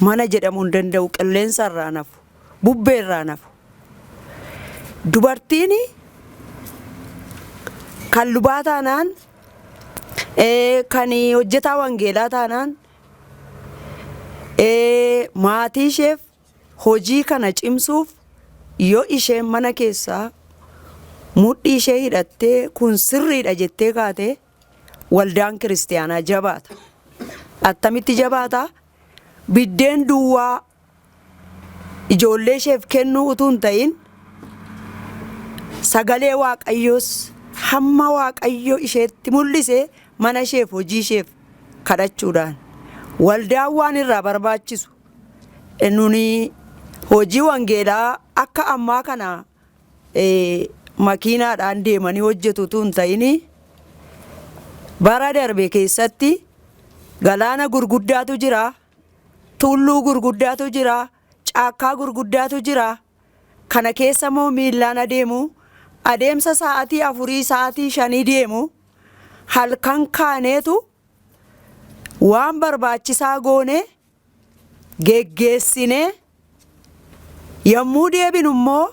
Mana jedhamuu hin danda'u qilleensa irraan hafu, bubbee irraan hafu. Dubartiin kan lubaa taanaan, kan hojjetaa wangeelaa taanaan maatii isheef hojii kana cimsuuf yoo isheen mana keessaa mudhii ishee hidhattee kun sirriidha jettee kaatee, waldaan kiristiyaanaa jabaata. Attamitti jabaata? Biddeen duwwaa ijoollee isheef kennuu utuu hin ta'in sagalee Waaqayyoos hamma Waaqayyo isheetti mul'ise mana isheef hojii isheef kadhachuudhaan waldaan waan irraa barbaachisu nuni hojii wangeelaa akka ammaa kana makiinaadhaan deemanii hojjetu utuu hin ta'in bara darbe keessatti galaana gurguddaatu jira, tulluu gurguddaatu jira, caakkaa gurguddaatu jira. Kana keessa immoo miillaan adeemu, adeemsa sa'aatii afurii, sa'aatii shanii deemu. Halkan kaaneetu waan barbaachisaa goonee geggeessinee yommuu deebinu immoo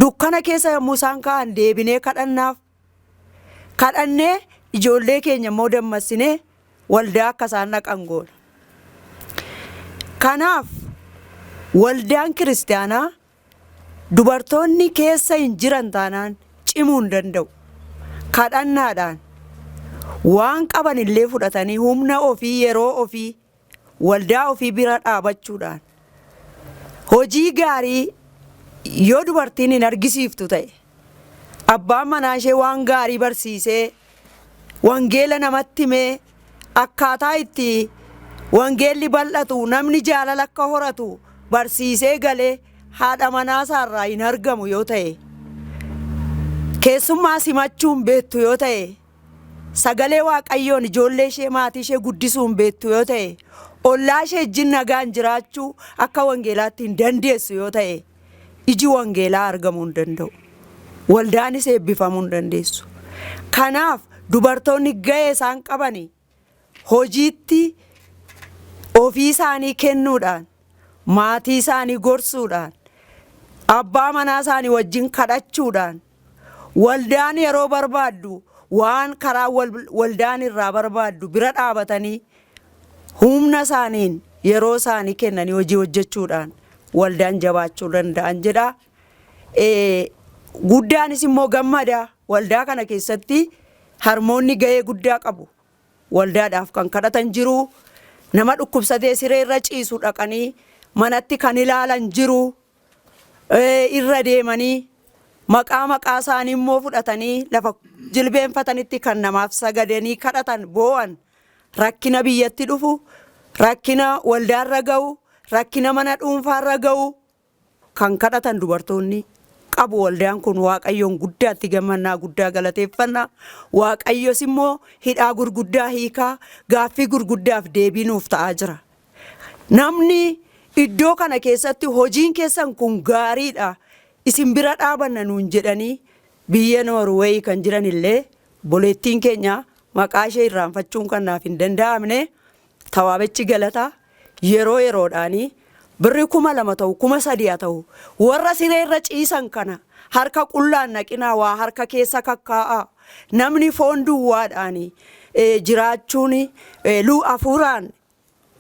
dukkana keessa yommuu isaan ka'an deebinee kadhannaaf kadhannee ijoollee keenya immoo dammassinee waldaa akka isaan dhaqan goona. Kanaaf waldaan kiristaanaa Dubartoonni keessa hin jiran taanaan cimuu hin danda'u. Kadhannaadhaan, waan qaban illee fudhatanii humna ofii, yeroo ofii, waldaa ofii bira dhaabachuudhaan hojii gaarii yoo dubartiin hin argisiiftu ta'e, Abbaan manaa ishee waan gaarii barsiisee, wangeela namatti himee, akkaataa itti wangeelli bal'atu, namni jaalala akka horatu barsiisee galee haadha manaa isaa irraa hin argamu yoo ta'e, keessummaa simachuu hin beektu yoo ta'e, sagalee Waaqayyoon ijoollee ishee, maatii ishee guddisuu hin beektu yoo ta'e, ollaa ishee wajjin nagaan jiraachuu akka wangeelaatti hin dandeessu yoo ta'e, iji wangeelaa argamuu hin danda'u. Waldaanis eebbifamuu hin dandeessu. Kanaaf dubartoonni ga'ee isaan qaban hojiitti ofii isaanii kennuudhaan, maatii isaanii gorsuudhaan, abbaa manaa isaanii wajjin kadhachuudhaan, Waldaan yeroo barbaaddu waan karaa waldaan irraa barbaaddu bira dhaabatanii humna isaaniin yeroo isaanii kennanii hojii hojjechuudhaan waldaan jabaachuu danda'an jedha. Guddaanis immoo gammada waldaa kana keessatti harmoonni gahee guddaa qabu. Waldaadhaaf kan kadhatan jiru nama dhukkubsatee siree irra ciisu dhaqanii manatti kan ilaalan jiru irra deemanii maqaa maqaa isaanii immoo fudhatanii lafa jilbeenfatanitti kan namaaf sagadanii kadhatan boo'an rakkina biyyatti dhufu rakkina waldaarra ga'u rakkina mana dhuunfaarra ga'u kan kadhatan dubartoonni qabu waldaan kun waaqayyoon guddaatti gammannaa guddaa galateeffanna waaqayyos immoo hidhaa gurguddaa hiikaa gaaffii gurguddaaf deebii nuuf ta'aa jira. Namni iddoo kana keessatti hojiin keessan kun gaariidha, isin bira dhaabanna nuun jedhanii biyya Noorweeyi kan jiran illee obboleettiin keenya maqaa ishee irraanfachuun kan naaf hin danda'amne Tawaabechi Galata yeroo yeroodhaanii birri kuma lama ta'u kuma sadii haa ta'u warra siree irra ciisan kana harka qullaan naqinaa waa harka keessa kakkaa'aa namni foon duwwaadhaanii jiraachuun luu afuuraan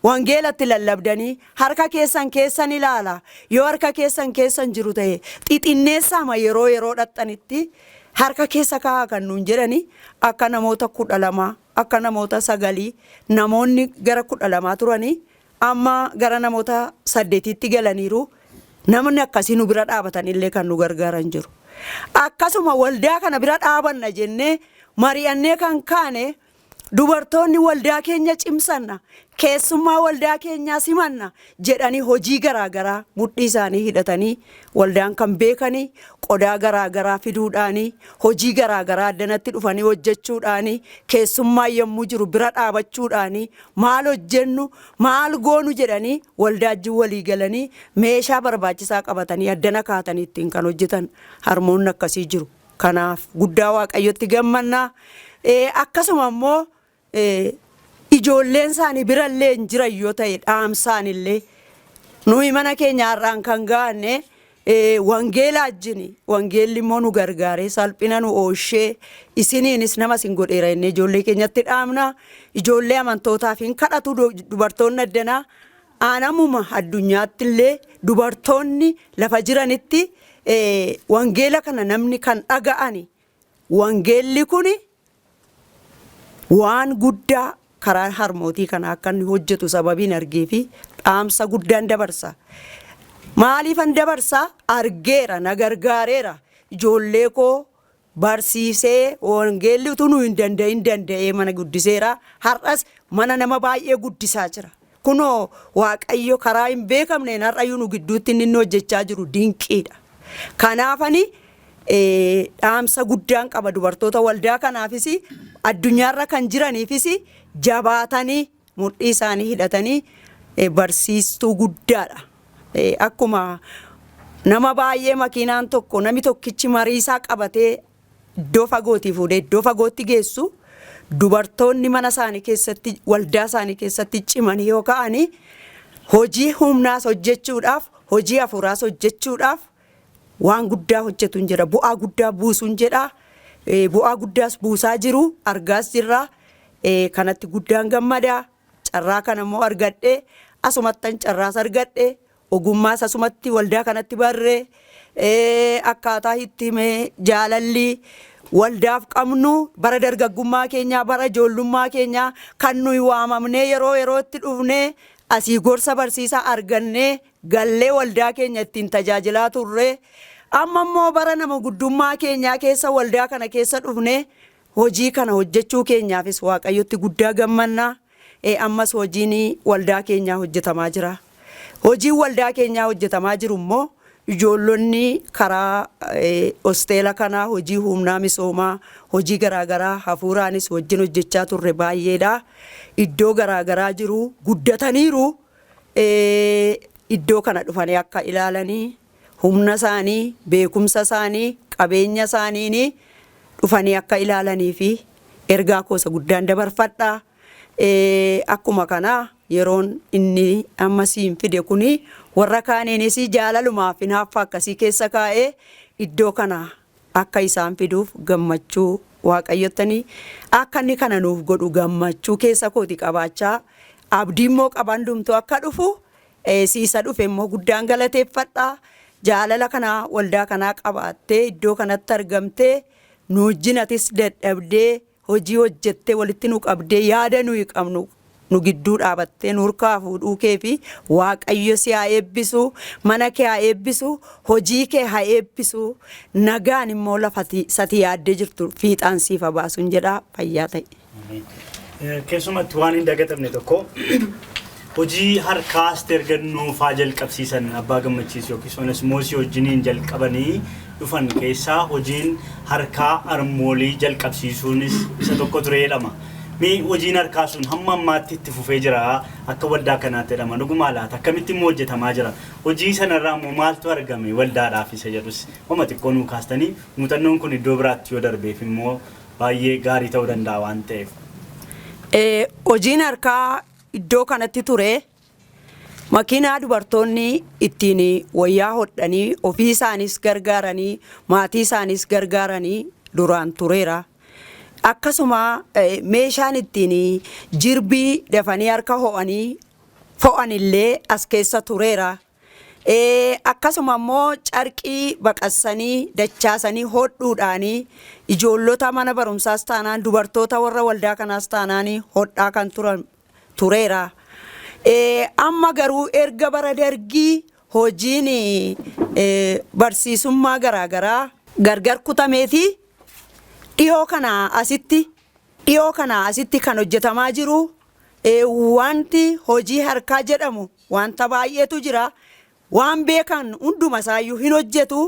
Wangeela itti lallabdanii harka keessan keessa ni laala, yoo harka keessan keessa hin jiru ta'e xixinneessaama yeroo yeroo dhaqxanitti harka keessa ka'aa kan nuun jedhani akka namoota kudha lamaa akka namoota sagalii namoonni gara kudha lamaa turani amma gara namoota saddetiitti galaniiru namni akkasii nu bira dhaabatan illee kan nu gargaaran jiru akkasuma waldaa kana bira dhaabanna jennee mari'annee kan kaane Dubartoonni waldaa keenya cimsanna, keessummaa waldaa keenyaa simanna jedhanii hojii garaa garaa mudhii isaanii hidhatanii waldaan kan beekani qodaa garaa garaa fiduudhaani, hojii garaa garaa addanatti dhufanii hojjechuudhaani, keessummaan yommuu jiru bira dhaabachuudhaani, maal hojjennu, maal goonu jedhanii waldaa wajjin walii galanii meeshaa barbaachisaa qabatanii addana kaa'atanii ittiin kan hojjetan harmoonni akkasii jiru. Kanaaf guddaa Waaqayyotti gammanna. Akkasuma immoo ijoolleen isaanii birallee hin jiran yoo ta'e dhaamsaan illee nuyi mana keenya har'aan kan gaanne wangeela ajjini wangeelli immoo nu gargaaree salphina nu ooshee isiniinis nama isin godheera inni ijoollee keenyatti dhaamna ijoollee amantootaaf hin kadhatu dubartoonni addanaa Aanamuma addunyaattillee dubartoonni lafa jiranitti wangeela kana namni kan dhaga'ani wangeelli kun waan guddaa karaa harmootii kanaa akka inni hojjetu sababiin argee fi dhaamsa guddaan dabarsa. Maaliifan dabarsa argeera na gargaareera ijoollee koo barsiisee, wangeelli utuu nu hin danda'in danda'ee mana guddiseera. Har'as mana nama baay'ee guddisaa jira. Kunoo Waaqayyo karaa hin beekamneen har'ayyuu nu gidduutti inni inni hojjechaa jiru dinqiidha. Kanaafani eh, dhaamsa guddaan qaba dubartoota waldaa kanaafis addunyaarra kan jiraniifis jabaatanii Mudhii isaanii hidhatanii barsiistuu guddaadha. Akkuma nama baay'ee makiinaan tokko nami tokkichi marii isaa qabatee iddoo fagootii fuudhee iddoo fagootti geessu dubartoonni mana isaanii keessatti waldaa isaanii keessatti cimanii yoo ka'anii hojii humnaas hojjechuudhaaf hojii hafuuraas hojjechuudhaaf Waan guddaa hojjetun jira. Bu'aa guddaa buusun jedha. Bu'aa guddaas buusaa jiru. Argaas jirra. Kanatti guddaan gammada. Carraa kana immoo argadhe. Asumattan carraas argadhe. Ogummaas asumatti waldaa kanatti barre. Akkaataa itti hime jaalalli waldaaf qabnu bara dargaggummaa keenyaa bara ijoollummaa keenyaa kan nuyi waamamnee yeroo yerootti dhufnee asii gorsa barsiisaa argannee gallee waldaa keenya ittiin tajaajilaa turre. Amma immoo bara nama guddummaa keenyaa keessa waldaa kana keessa dhufnee hojii kana hojjechuu keenyaafis Waaqayyotti guddaa gammanna. Ee ammas hojiin waldaa keenyaa hojjetamaa jira. Hojiin waldaa keenyaa hojjetamaa jiru immoo ijoollonni karaa eh, hosteela kanaa hojii humnaa misoomaa hojii garaagaraa hafuuraanis wajjin hojjechaa turre baay'eedha. Iddoo garaagaraa jiru guddataniiru. iddoo kana dhufanii akka ilaalanii humna isaanii, beekumsa isaanii, qabeenya isaaniin dhufanii akka ilaalaniif ergaa koo isa guddaan dabarfadha. Akkuma kana yeroon inni amma siin fide kun warra kaaniinis jaalalumaaf hinaaffaa akkasii keessa kaa'ee iddoo kana akka isaan fiduuf gammachuu waaqayyottani akka inni kana nuuf godhu gammachuu keessa kooti qabaachaa abdii immoo qaba hundumtuu akka dhufu eh, siisa dhufe immoo guddaan galateeffadha jaalala kanaa waldaa kanaa qabaattee iddoo kanatti argamtee nu wajjin atis dadhabdee Hojii hojjettee walitti nu qabdee yaada nuyi qabnu nu gidduu dhaabattee nurkaa fuudhuu keefi waaqayyo si haa eebbisu mana kee haa eebbisu hojii kee haa eebbisu nagaan immoo lafa ati sati yaaddee jirtu fiixaan siif haa baasun jedhaa fayyaa ta'i. Keessumatti waan hin dagatamne tokko Hojii harkaas erga nuufaa jalqabsiisan Abbaa Gammachiis yookiis Onesmoosii wajjiniin jalqabanii dhufan keessaa hojiin harkaa Armoolii jalqabsiisuunis isa tokko ture jedhama. Mee hojiin harkaa sun hamma ammaatti itti fufee jiraa? Akka waldaa kanaatti jedhama. Dhugumaa laata? Akkamitti immoo hojjetamaa jira? Hojii sana irraa immoo maaltu argame waldaadhaaf isa jedhus homa xiqqoo nuu kaastanii muuxannoon kun iddoo biraatti yoo darbeef immoo baay'ee gaarii ta'uu danda'a waan ta'eef. Hojiin harkaa Iddoo kanatti ture makiinaa dubartoonni ittiin wayyaa hodhanii ofii isaaniis gargaaranii maatii isaaniis gargaaranii duraan tureera. Akkasuma meeshaan ittiin jirbii dafanii harka ho'anii fo'anillee as keessa tureera. Akkasuma immoo carqii baqassanii, dachaasanii hodhuudhaan ijoollota mana barumsaas taanaan dubartoota warra waldaa kanaas taanaan hodhaa kan turan tureera. Amma garuu erga bara dargii hojiin barsiisummaa garaagaraa gargar kutameeti dhiyoo kanaa asitti dhiyoo kanaa asitti kan hojjetamaa jiru wanti hojii harkaa jedhamu Wanta baay'eetu jira. Waan beekan hunduma isaayyuu hin hojjetu.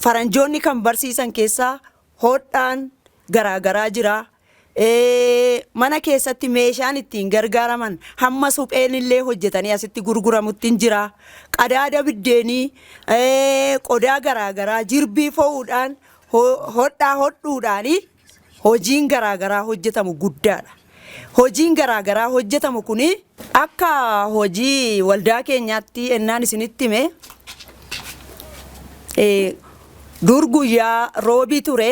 Faranjoonni kan barsiisan keessaa hodhaan garaagaraa jira. Mana keessatti meeshaan ittiin gargaaraman hamma supheen illee hojjetanii asitti gurguramutti hin jira. Qadaada biddeenii, qodaa garaagaraa jirbii fo'uudhaan hodhaa hodhuudhaanii Hojiin garaa garaa hojjetamu guddaadha. Hojiin garaa garaa hojjetamu kuni akka hojii waldaa keenyaatti ennaan isinitti hime dur guyyaa roobii ture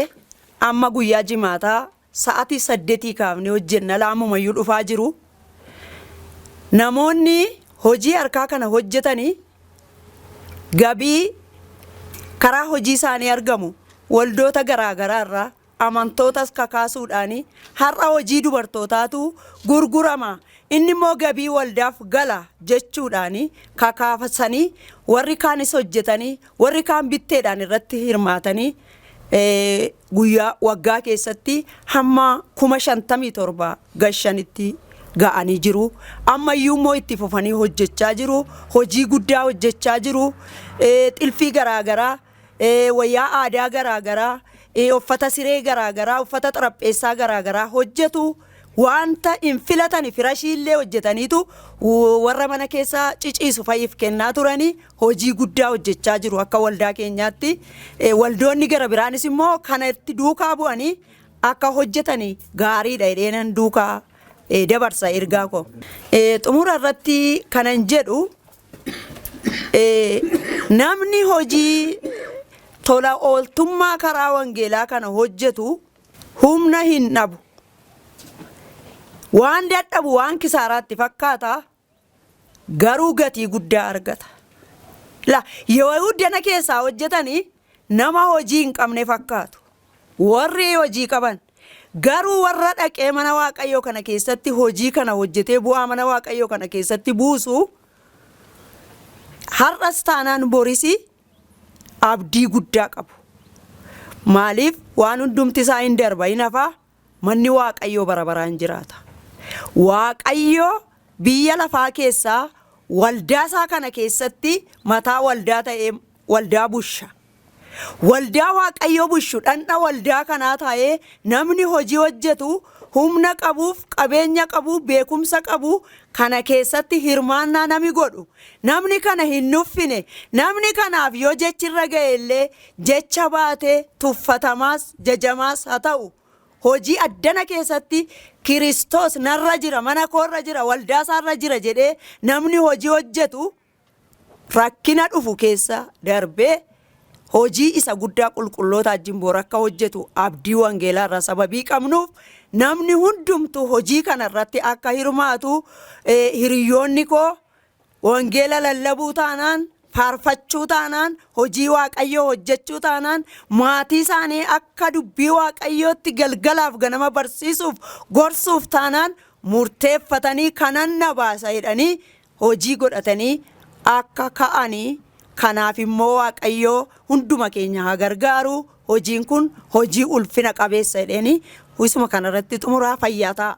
amma guyyaa jimaataa sa'atii saddetii kaafnee hojjenna laammumayyuu dhufaa jiru. Namoonni hojii harkaa kana hojjetanii Gabii karaa hojii isaanii argamu waldoota garaa garaa irraa, amantootas kakaasuudhaan har'a hojii dubartootaatu gurgurama, inni immoo gabii waldaaf gala jechuudhaan kakaasanii warri kaanis hojjetanii warri kaan bitteedhaan irratti hirmaatanii guyyaa waggaa keessatti hamma kuma shantamii torba gashanitti ga'anii jiru. Ammayyuu immoo itti fufanii hojjechaa jiru. Hojii guddaa hojjechaa jiru. Xilfii garaagaraa, wayyaa aadaa garaagaraa, uffata siree garaagaraa, uffata xarapheessaa garaagaraa hojjetu. Wanta hin filatani firashii illee hojjetaniitu warra mana keessa ciciisu fa'iif kennaa turanii. hojii guddaa hojjechaa jiru akka waldaa keenyaatti. Eh, Waldoonni gara biraanis immoo kana itti duukaa bu'anii akka hojjetan gaariidha jedheenan duukaa eh, dabarsa ergaa koo. Eh, Xumura irratti kanan jedhu eh, namni hojii tola ooltummaa karaa wangeelaa kana hojjetu humna hin dhabu. Waan dadhabu waan kisaaraatti fakkaata garuu gatii guddaa argata. La, yoo uddana keessaa hojjetanii nama hojii hin qabne fakkaatu. Warri hojii qaban garuu warra dhaqee mana Waaqayyoo kana keessatti hojii kana hojjetee bu'aa mana Waaqayyoo kana keessatti buusu har'as taanaan borisi abdii guddaa qabu. Maaliif waan hundumti isaa hin darba hin hafaa Manni Waaqayyoo bara baraan jiraata. Waaqayyo biyya lafaa keessaa waldaa isaa kana keessatti mataa waldaa ta'ee waldaa busha. Waldaa Waaqayyo bushu dhandha waldaa kanaa taa'ee namni hojii hojjetu humna qabuuf qabeenya qabu beekumsa qabu kana keessatti hirmaannaa nami godhu namni kana hin nuffine namni kanaaf yoo jechi irra ga'e illee jecha baate tuffatamaas, jajamaas ha ta'u, hojii addana keessatti Kiristoos narra jira, mana koo irra jira, waldaa isaa irra jira jedhee namni hojii hojjetu rakkina dhufu keessa darbee hojii isa guddaa qulqulloota wajjin bor akka hojjetu abdii wangeelaa irraa sababii qabnuuf namni hundumtu hojii kana irratti akka hirmaatu eh, hiriyoonni koo Wangeela lallabuu taanaan, faarfachuu taanaan, hojii Waaqayyoo hojjechuu taanaan, maatii isaanii akka dubbii Waaqayyootti galgalaaf ganama barsiisuuf, gorsuuf taanaan murteeffatanii kanan na baasa jedhanii hojii godhatanii akka ka'ani kanaaf immoo Waaqayyoo hunduma keenya haa gargaaru hojiin kun hojii ulfina qabeessa jedheeni isuma kanarratti xumuraa fayyaa ta'a.